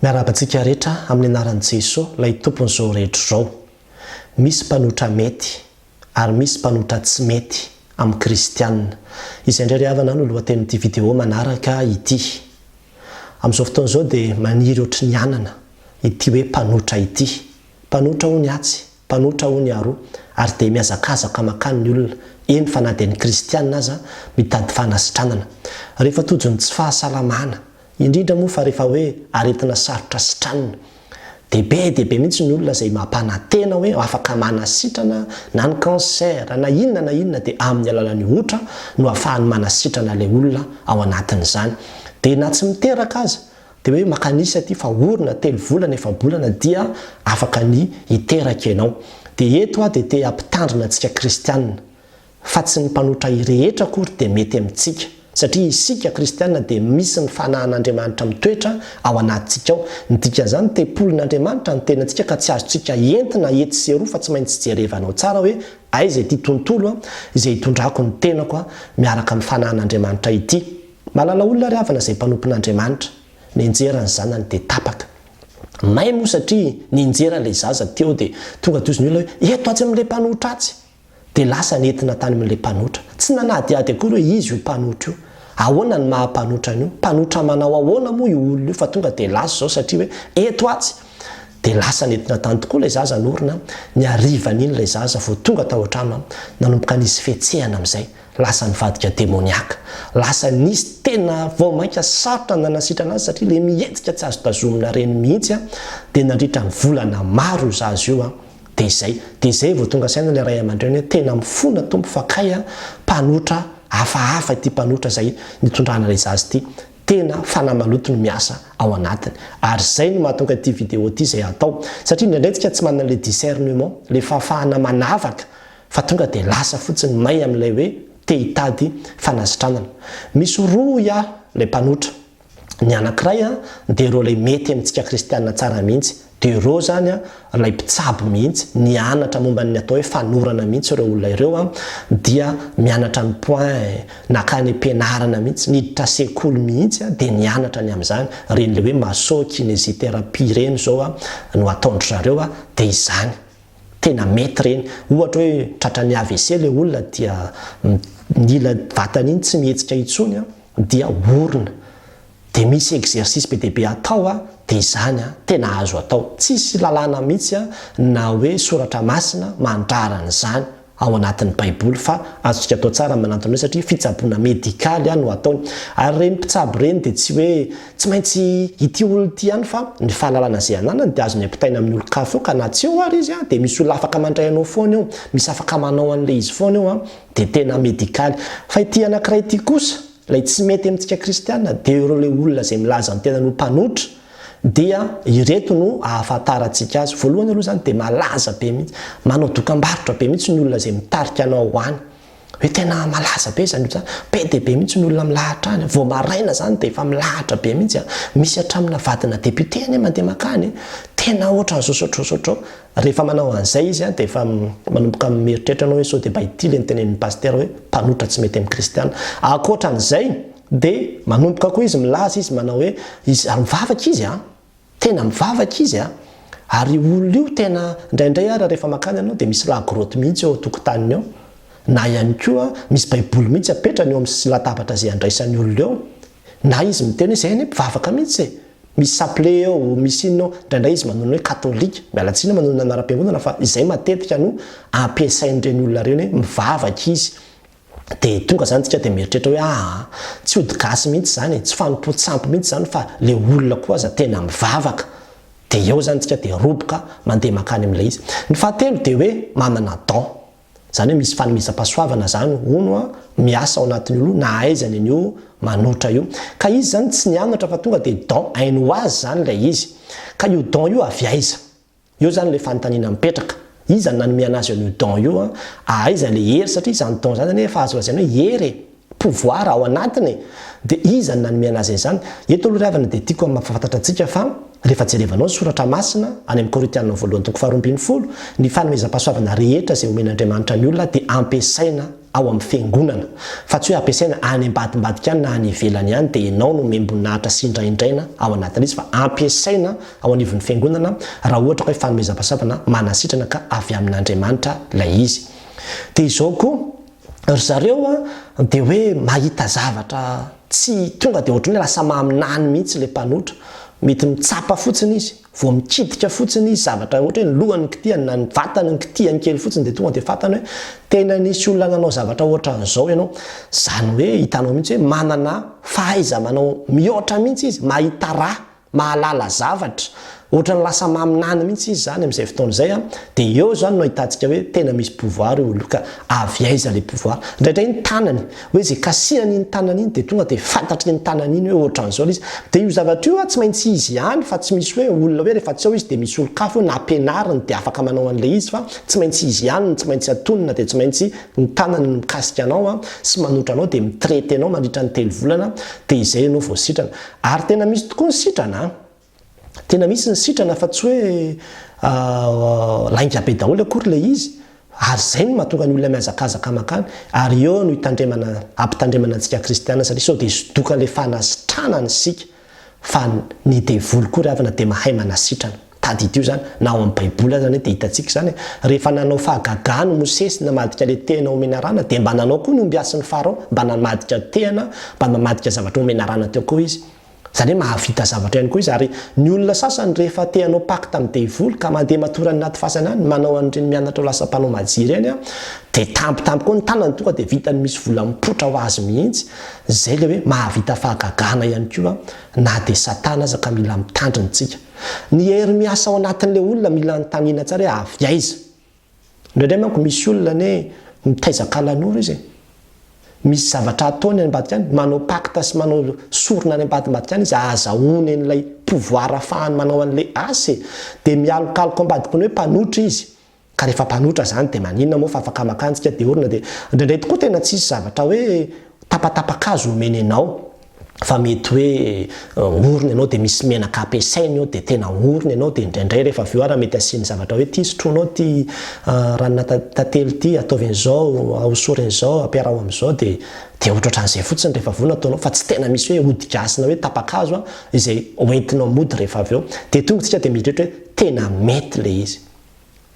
Miarahaba antsika rehetra amin'ny anaran'i Jeso, ilay Tompon'izao rehetra izao. Misy mpanotra mety ary misy mpanotra tsy mety amin'ny kristiana. Izay indray ry havana no lohatenin'ity video manaraka ity. Amin'izao fotoana izao dia maniry ohatry ny anana ity hoe mpanotra ity. Mpanotra hono atsy. Mpanotra hono iaro ary dia mihazakazaka makany ny olona, eny fa na dia ny kristiana aza mitady fanasitranana. Rehefa tojo ny tsy fahasalamana, indrindra moa fa rehefa hoe aretina sarotra sitranina, dia be dia be mihitsy ny olona izay mampanantena hoe afaka manasitrana na ny cancer na inona na inona dia amin'ny alalan'ny otra no ahafahany manasitrana ilay olona ao anatin'izany. Dia na tsy miteraka aza Dia hoe maka an'isa ity fa orona, telo volana, efa-bolana dia afaka ny hiteraka ianao. Dia eto aho dia te hampitandrina antsika kristiana fa tsy ny mpanotra ahy rehetra akory dia mety amintsika satria isika kristiana dia misy ny fanahan'Andriamanitra mitoetra ao anatintsika ao. Ny dikan'izany tempolin'Andriamanitra ny tenantsika ka tsy azontsika entina etsy sy eroa fa tsy maintsy jerevanao tsara hoe aiza ity tontolo izay hitondrako ny tenako miaraka amin'ny fanahan'Andriamanitra ity. Manana olona ry havana izay mpanompon'Andriamanitra, nianjera ny zanany dia tapaka. May moa satria nianjera ilay zaza teo dia tonga toy izny olona hoe eto atsy amin'ilay mpanotra atsy. Dia lasa nentina tany amin'ilay mpanotra. Tsy nanadihady akory hoe izy io mpanotra io. Ahoana ny maha mpanotra an'io? Mpanotra manao ahoana moa io olona io fa tonga dia lasa izao satria hoe eto atsy? Dia lasa nentina tany tokoa ilay zaza norona, ny harivan'iny ilay zaza vao tonga tao an-trano, nanomboka nisy fihetsehana amin'izay. Lasa nivadika demoniaka. Lasa nisy tena vao mainka sarotra nanasitrana azy satria ilay mihetsika tsy azo tazomina ireny mihitsy an, dia nandritra ny volana maro io zaza io an, dia izay, dia izay vao tonga saina ilay ray aman-dreny hoe tena mifona Tompo fa kay an, mpanotra hafahafa ity mpanotra izay nitondrana ilay zaza ity, tena fanahy maloto no miasa ao anatiny. Ary izay no mahatonga ity video ity izay hatao, satria indraindray tsika tsy manana ilay discernement, ilay fahafahana manavaka, fa tonga dia lasa fotsiny may amin'ilay hoe te hitady fanasitranana. Misy roa hoy aho ilay mpanotra, ny anankiray dia ireo ilay mety amintsika kristiana tsara mihitsy, dia ireo izany ilay mpitsabo mihitsy, nianatra momba ny atao hoe fanorana mihitsy ireo olona ireo, dia mianatra ny point, nankany am-pianarana mihitsy, niditra sekoly mihitsy dia nianatra ny amin'izany, ireny ilay hoe maso-kinesithérapie ireny izao no ataon-dry zareo dia izany. Tena mety ireny. Ohatra hoe tratran'ny AVC ilay olona dia ny ila vatany iny tsy mihetsika intsony an, dia orina. Dia misy exercice be dia be atao an, dia izany an, tena azo atao. Tsisy lalàna mihitsy an, na hoe soratra masina mandrara an'izany. ao anatin'ny baiboly fa azontsika atao tsara ny manantona io satria fitsaboana medikaly no ataony. Ary ireny mpitsabo ireny dia tsy hoe tsy maintsy ity olona ity ihany fa ny fahalalana izay ananany dia azony ampitaina amin'ny olon-kafa eo ka na tsy eo ary izy dia misy olona afaka mandray anao foana eo, misy afaka manao an'ilay izy foana eo dia tena medikaly. Fa ity anankiray ity kosa ilay tsy mety amintsika kristiana dia ireo ilay olona izay milaza ny tenany ho mpanotra, Dia ireto no ahafantarantsika azy. Voalohany aloha izany dia malaza be mihitsy. Manao dokambarotra be mihitsy ny olona izay mitarika anao ho any. Hoe tena malaza be izany olona izany. Be dia be mihitsy ny olona milahatra any. Vao maraina izany dia efa milahatra be mihitsy. Misy hatramina vadina député anie mandeha mankany. Tena ohatran'izao sao ohatran'izao sao ohatran'izao. Rehefa manao an'izay izy dia efa manomboka mieritreritra ianao hoe sao dia mba ity ilay notenenin'ny pasitera hoe mpanotra tsy mety amin'ny kristiana. Ankoatran'izay, Dia manomboka koa izy milaza izy manao hoe izy ary mivavaka izy an! Tena mivavaka izy an! Ary io olona io tena indraindray ary rehefa mankany ianao dia misy la grotte mihitsy eo an-tokotaniny eo na ihany koa misy baiboly mihitsy apetrany eo amin'ny latabatra izay andraisan'ny olona eo na izy miteny hoe izay anie mpivavaka mihitsy e! misy chapelet eo, misy inona eo, indraindray izy manonona hoe katolika, miala tsiny manonona anaram-piangonana fa izay matetika no ampiasain'ireny olona ireny hoe mivavaka izy. Dia tonga zany tsika dia mieritreritra hoe aa, tsy ody gasy mihitsy zany e, tsy fanompoantsy ampy mihitsy zany fa le olona koa aza tena mivavaka. Dia eo zany tsika dia roboka mandeha mankany amin'ilay izy. Ny fahatelo dia hoe manana don. Zany hoe misy fanomezam-pahasoavana zany hono an, miasa ao anatin'io aloha na aiza any an'io manotra io. Ka izy zany tsy nianatra fa tonga dia don ainy ho azy zany ilay izy. Ka io don io avy aiza? Eo zany ilay fanontaniana mipetraka. Iza no nanome anazy an'io don io an? Aiza ilay hery satria izany don izany zany efa azo lazaina hoe hery e! pouvoir ao anatiny e! Dia iza no nanome anazy an'izany? Eto aloha ry havana dia tiako hampahafantatra antsika fa rehefa jerevanao ny soratra masina any amin'ny Korintiana voalohany toko faharoa ambin'ny folo, ny fanomezam-pahasoavana rehetra izay omen'Andriamanitra ny olona dia ampiasaina ao amin'ny Fiangonana, fa tsy hoe ampiasaina any ambadimbadika any na any ivelany ihany dia ianao no miambon'ahitra sy indraindraina ao anatin'izy fa ampiasaina ao anivon'ny Fiangonana raha ohatra ka hoe fanomezam-pahasoavana manasitrana ka avy amin'Andriamanitra ilay izy. Dia izao koa, ry zareo dia hoe mahita zavatra tsy tonga dia ohatran'ny hoe lasa maminany mihitsy ilay mpanotra, mety mitsapa fotsiny izy. Vao mikitika fotsiny izy, zavatra ohatra hoe ny lohany no kitihany na ny vatany no kitihany kely fotsiny dia tonga dia fantany hoe tena nisy olona nanao zavatra ohatran'izao ianao. Izany hoe hitanao mihitsy hoe manana fahaiza-manao mihoatra mihitsy izy, mahita raha, mahalala zavatra. Ohatran'ny lasa maminany mihitsy izy izany amin'izay fotoana izay an! Dia eo izany no ahitantsika hoe tena misy pouvoir io olona io ka avy aiza ilay pouvoir? Indraindray ny tanany. Hoe izay kasihan' iny tanana iny dia tonga dia fantatr' iny tanana iny hoe ohatran' izao ilay izy. Dia io zavatra io an, tsy maintsy izy ihany fa tsy misy hoe olona hoe rehefa tsy ao izy dia misy olon-kafa hoe nampianariny dia afaka manao an' ilay izy fa tsy maintsy izy ihany no tsy maintsy atonina dia tsy maintsy ny tanany no mikasika anao an, sy manotra anao dia mi-traiter anao mandritra ny telo volana dia izay ianao vao sitrana. Ary tena misy tokoa ny sitrana an! Tena misy ny sitrana fa tsy hoe lainga be daholo akory ilay izy ary izay no mahatonga ny olona mihazakazaka makany ary eo no hitandremana hampitandremana antsika kristiana satria sao dia zodoka ilay fanasitranana isika fa ny devoly koa ry havana dia mahay manasitrana tadidio izany na ao amin'ny baiboly aza anie dia hitantsika izany rehefa nanao fahagagana i mosesy namadika ilay tehana ho menarana dia mba nanao koa ny ombiasin'ny farao mba namadika tehana mba mamadika zavatra ho menarana teo koa izy Izany hoe mahavita zavatra ihany koa izy ary ny olona sasany rehefa te hanao pacte amin'ny devoly ka mandeha matory any anaty fasana any, manao an'ireny mianatra ho lasa mpanao maji ireny an, dia tampotampoka eo ny tanany tonga dia vitany misy vola mipoitra ho azy mihitsy. Izay ilay hoe mahavita fahagagana ihany koa na dia satana aza ka mila mitandrina antsika. Ny hery miasa ao anatin'ilay olona mila anontaniana tsara hoe avy aiza? Indraindray manko misy olona anie mitaiza kalanoro izy e! Misy zavatra ataony any ambadika any, manao pacte sy manao sorona any ambadimbadika any izy ahazahoany an'ilay pouvoir afahany manao an'ilay asa e! Dia mialokaloka ambadiky ny hoe mpanotra izy. Ka rehefa mpanotra izany dia maninona moa fa afaka maka antsika dia orina dia indraindray tokoa tena tsisy zavatra hoe tapatapakazo omeny anao. fa mety hoe orina ianao dia misy menaka ampiasaina eo dia tena orina ianao dia indraindray rehefa avy eo ary mety asiany zavatra hoe ity sotroinao ity ranona tantely ity ataovy an'izao ahosory an'izao ampiaraho amin'izao dia dia ohatrohatran'izay fotsiny rehefa avy eo no ataonao fa tsy tena misy hoe ody gasy na hoe tapa-kazo izay hoentinao mody rehefa avy eo dia tonga isika dia mieritreritra hoe tena mety ilay izy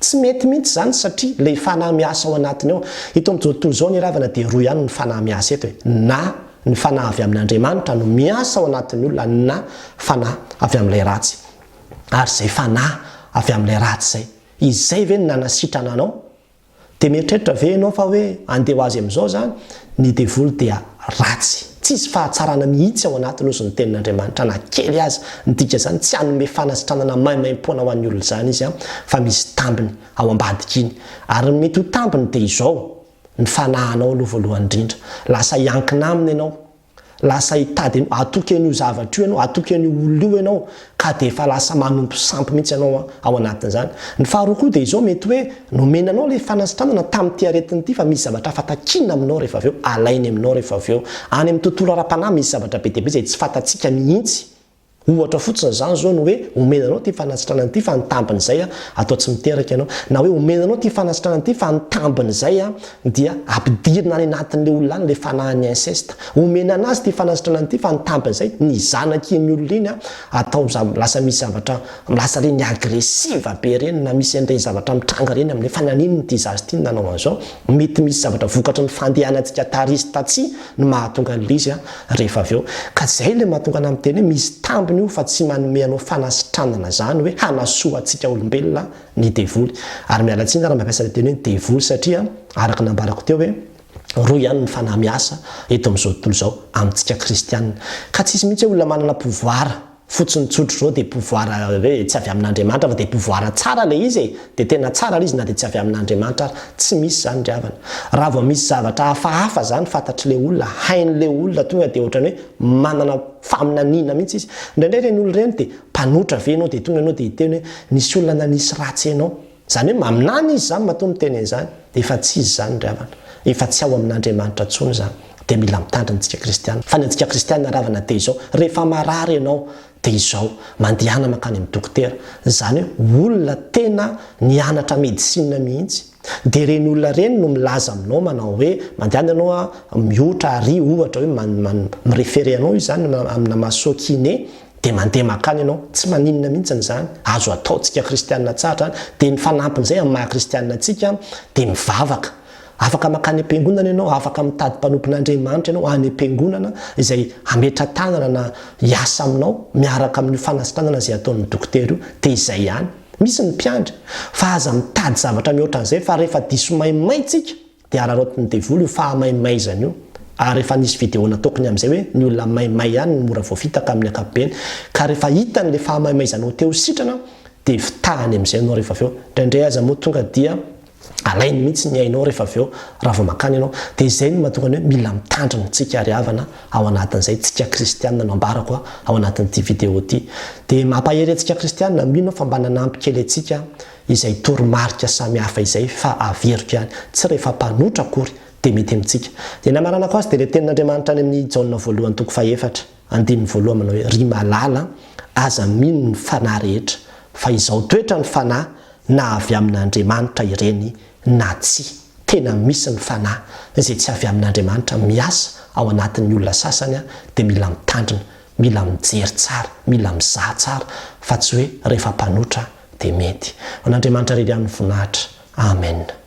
Tsy mety mihitsy izany satria ilay fanahy miasa ao anatiny ao. Eto amin'izao tontolo izao anie ravana dia roa ihany ny fanahy miasa eto e. Na ny fanahy avy amin'Andriamanitra no miasa ao anatin'ny olona na fanahy avy amin'ilay ratsy. Ary izay fanahy avy amin'ilay ratsy izay, izay ve no nanasitrana anao? Dia mieritreritra ve ianao fa hoe andeha ho azy amin'izao izany? Ny devoly dia ratsy. Tsisy fahatsarana mihitsy ao anatiny hozy ny tenin'Andriamanitra na kely aza. Midika izany tsy hanome fanasitranana maimaimpoana ho an'ny olona izany izy fa misy tambiny ao ambadika iny. Ary ny mety ho tambiny dia izao, ny fanahinao aloha voalohany indrindra. Lasa hiankina aminy ianao. Lasa hitady an'io, hatoky an'io zavatra io ianao, hatoky an'io olona io ianao, ka dia efa lasa manompo sampy mihitsy ianao ao anatin'izany. Ny faharoa koa dia izao, mety hoe nomena anao ilay fanasitranana tamin'ity aretina ity, fa misy zavatra hafa takiana aminao rehefa avy eo, alainy aminao rehefa avy eo. Any amin'ny tontolo ara-panahy, misy zavatra be dia be izay tsy fantatsika mihitsy. Ohatra fotsiny izany izao ny hoe omena anao ity fanasitrana ity fa ny tambiny izay atao tsy miteraka ianao. Na hoe omena anao ity fanasitrana ity fa ny tambiny izay dia ampidirina any anatin'ilay olona any ilay fanahin'ny inceste. Omena anazy ity fanasitrana ity fa ny tambiny izay ny zanak'iny olona iny atao lasa misy zavatra lasa ireny agressive be ireny na misy an'ireny zavatra mitranga ireny amin'ilay fa naninona ity zaza ity no nanao an'izao. Mety misy zavatra vokatry ny fandehanantsika tarisy tatsy. no mahatonga an'ilay izy rehefa avy eo ka izay ilay mahatonga anà miteny hoe misy tambiny io fa tsy manome anao fanasitranana izany hoe hanasoa antsika olombelona ny devoly ary miala tsiny aho raha mampiasa ilay teny hoe devoly satria araka ny nambarako teo hoe roa ihany ny fanahy miasa eto amin'izao tontolo izao amintsika kristianina ka tsisy mihitsy hoe olona manana pouvoir fotsiny tsotra zao de pouvoir hoe tsy avy amin'Andriamanitra fa de pouvoir tsara le izy e! de tena tsara le izy na de tsy avy amin'Andriamanitra ary, tsy misy zany ry havana, raha vao misy zavatra hafahafa zany fantatr'le olona, hain'le olona tonga de ohatrany hoe manana faminaniana mihitsy izy, indraindray reny olona reny de mpanotra ve ianao de tonga ianao de hiteny hoe misy olona nanisy ratsy anao, Izany hoe maminany izy izany matoa miteny an'izany, dia efa tsy izy izany ry havana, efa tsy ao amin'Andriamanitra intsony izany, dia mila mitandrina antsika kristiana, fa ny antsika kristiana ry havana dia izao, rehefa marary ianao dia izao, mandehana mankany amin'ny dokotera, izany hoe olona tena nianatra medicine mihitsy, dia ireny olona ireny no milaza aminao manao hoe mandehana ianao a, mihotra ary ohatra hoe man man mi-referer anao izy izany amina maso kiné, Dia mandeha mankany ianao, tsy maninona mihitsy izany, azo atao, tsika kristianina tsara izany, dia ny fanampin'izay amin'ny maha kristianina antsika dia mivavaka, afaka mankany am-piangonana ianao, afaka mitady mpanompon'Andriamanitra ianao any am-piangonana izay hametra-tanana na hiasa aminao miaraka amin'io fanasitranana izay ataon'ny dokotera io, dia izay ihany. Misy ny mpiandry, fa aza mitady zavatra mihoatra an'izay fa rehefa diso maimay tsika, Dia araraotin'ny devoly io fahamaimaizany io. Ary efa nisy video nataokony amin'izay hoe ny olona maimay ihany no mora voafitaka amin'ny ankapobeny. Ka rehefa hitany ilay fahamaimaizanao te ho sitrana dia fitahany amin'izay ianao rehefa avy eo. Indraindray aza moa tonga dia alainy mihitsy ny ainao rehefa avy eo raha vao mankany ianao. Dia izay no mahatonga ny hoe mila mitandrina antsika ary havana ao anatin'izay tsika kristiana no ambarako ao anatin'ity video ity. Dia mampahery antsika kristiana mino aho fa mba nanampy kely antsika izay toromarika samy hafa izay fa averiko ihany, tsy rehefa mpanotra akory dia mety amintsika. Dia ny hamaranako azy dia ilay tenin'Andriamanitra any amin'ny Jaona voalohany toko fahefatra, andininy voalohany manao hoe, Ry malala an, aza mino ny fanahy rehetra, fa izao toetra ny fanahy na avy amin'Andriamanitra ireny na tsia. Tena misy ny fanahy izay tsy avy amin'Andriamanitra miasa ao anatin'ny olona sasany dia mila mitandrina. Mila mijery tsara, mila mizaha tsara fa tsy hoe rehefa mpanotra dia mety. Ho an'Andriamanitra rery ihany ny voninahitra. Amen.